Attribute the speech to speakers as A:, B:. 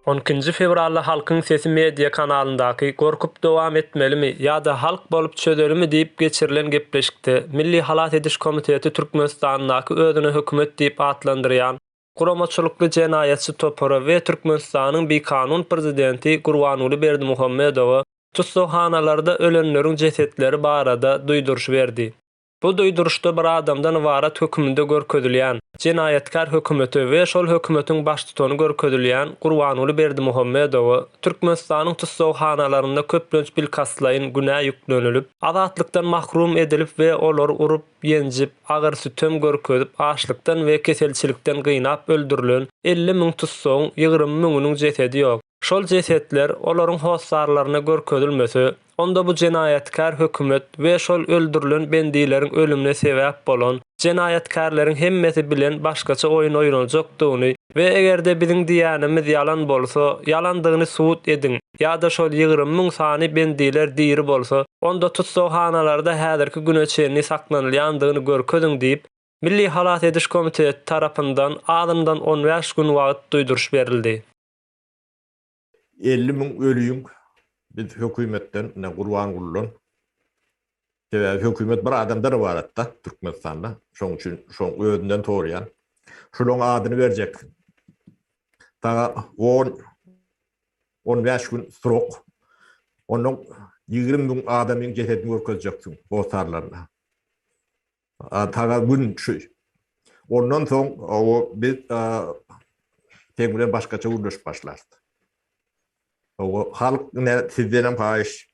A: On ikinji fewralda Halkyň sesi media kanalyndaky Gorkup dowam etmelimi ýa-da halk bolup çözelimi diýip geçirilen gepleşikde Milli halas ediş komiteti Türkmenistandaky özüne hökümet diýip atlandyrýan guramaçylykly jenaýatçy topara we Türkmenistanyň bikanun prezidenti Gurbanguly Berdimuhamedowa tussaghanalarda ölenleriň jesetleri barada duýduryş berdi. Bu duýduryşda bir adamdan ybarat höküminde görkezilýän, jenaýatkär hökümete we şol hökümetiň baştutany görkezilýän Gurbanguly Berdimuhamedowa Türkmenistanyň tussaghanalarynda köplenç bilkastlaýyn günä ýüklenilip, azatlykdan mahrum edilip we olar urup, ýenjip, agyr sütem görkezip, açlykdan we keselçilikden gynap öldürilen elli müň tussagyň ýigrimi müňüniň jesedi ýok. Şol jesetler olaryň hossarlaryna görkezilmese, onda bu jenaýatkär hökümet we şol öldürilen bendileriň ölümine sebäp bolan jenaýatkärleriň hemmesi bilen başgaça oýun oýnaljakdygyny we eger-de biziň diýýänimiz ýalan bolsa, ýalandygyny subut ediň! ýa-da şol ýigrimi müň sany bendiler diri bolsa, onda tussaghanalarda häzirki güne çenli saklanylýandygyny görkeziň diýip, Milli halas ediş komiteti tarapyndan azyndan on bäş gün wagt duýduryş berildi.
B: Elli müň ölüiň biz hökümetden, ine, Gurban Guldan, Sebäbi hökümet bir adamdan ybaratda Türkmenistanda. Şonuň üçin şoň özünden sorýan. Şulaň adyny berjek. Saňa on, on bäş gün srok. Onnoň ýigrimi müň adamyň jesedini görkezjeksin hossarlaryna. A saňa gün şu. Ondan soň o biz seň bilen başgaça gürleşip başlarys. Oňa halk ne sizdenem haýyş.